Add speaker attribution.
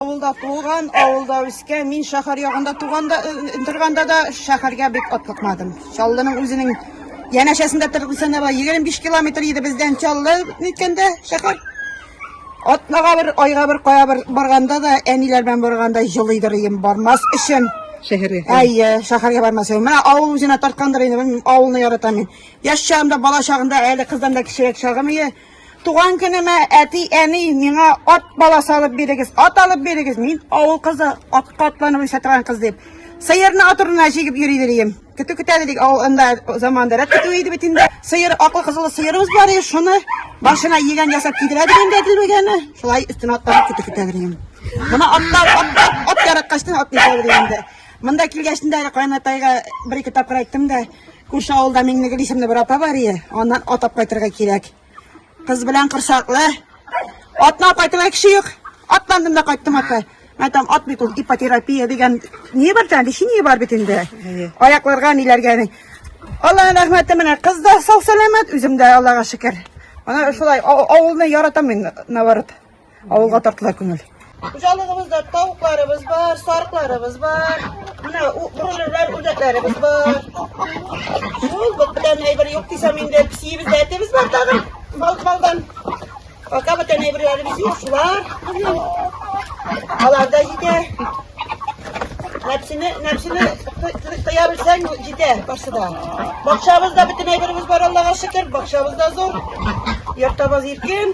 Speaker 1: Авылда туган, авылда үскән. Мин шәһәр ягында туганда, торганда да шәһәргә бик атлыкмадым. Чаллының үзенең янәшәсендә торып сәнәбә 25 километр иде бездән Чаллы әйткәндә шәһәр. Атнага бер, айга бер кая бер барганда да, әниләр белән барганда җылыйдыр идем бармас өчен. Шәһәргә. Әйе,
Speaker 2: шәһәргә
Speaker 1: бармас өчен. Менә авыл үзенә тарткандыр инде, мин авылны яратам мин. Яшь чагымда, бала чагында, әле кыздан да кечерәк чагым иде. Туган көнемә әти, әни миңа ат баласы алып бирегез, ат алып бирегез. Мин авыл кызы, ат катланып үсә торган кыз дип. Сыерны ат урынына җигеп йөри дидем. Көтү көтә дидек, авыл анда заманда рәт көтү иде бит инде. Сыер, аклы кызылы сыерыбыз бар иде, шуны башына йигән ясап кидерә дидем дә дилбегәне. Шулай өстенә атлап көтү көтә дидем. Моны атта, атта, ат яраткачтан ат инде. Монда килгәчтен дә кайнатайга бер-ике тапкыр әйттем дә, Күрше авылда Миңнегөл исемле бер апа бар ие. Аннан атап кайтырга кирәк. Кыз белән корсаклы. Атна кайтырга кеше юк. Атландым да кайттым апа. Мен там ат бит ул ипотерапия дигән ни бар тән, лечение бар бит инде. Аякларга ниләргә. Аллаһның рәхмәте менә кыз да сау-сәламәт, үзем дә Аллага шөкер. Ана шулай авылны яратам мин наоборот. Авылга тартыла күңел. Хуҗалыгыбызда тавыкларыбыз бар, сарыкларыбыз бар. Менә бройлерлар, үрдәкләребез бар. Шул бүтән әйбер юк дисәм инде, псиебез, әтебез бар тагын. Балкалдан. Пока бүтән әйберләребез юк, шулар. Аларда җитә. Нәпсене, нәпсене тыя белсәң, җитә барсы да. Бакчабызда бүтән әйберебез бар, Аллага шөкер, бакчабызда зур. Йортабыз иркен.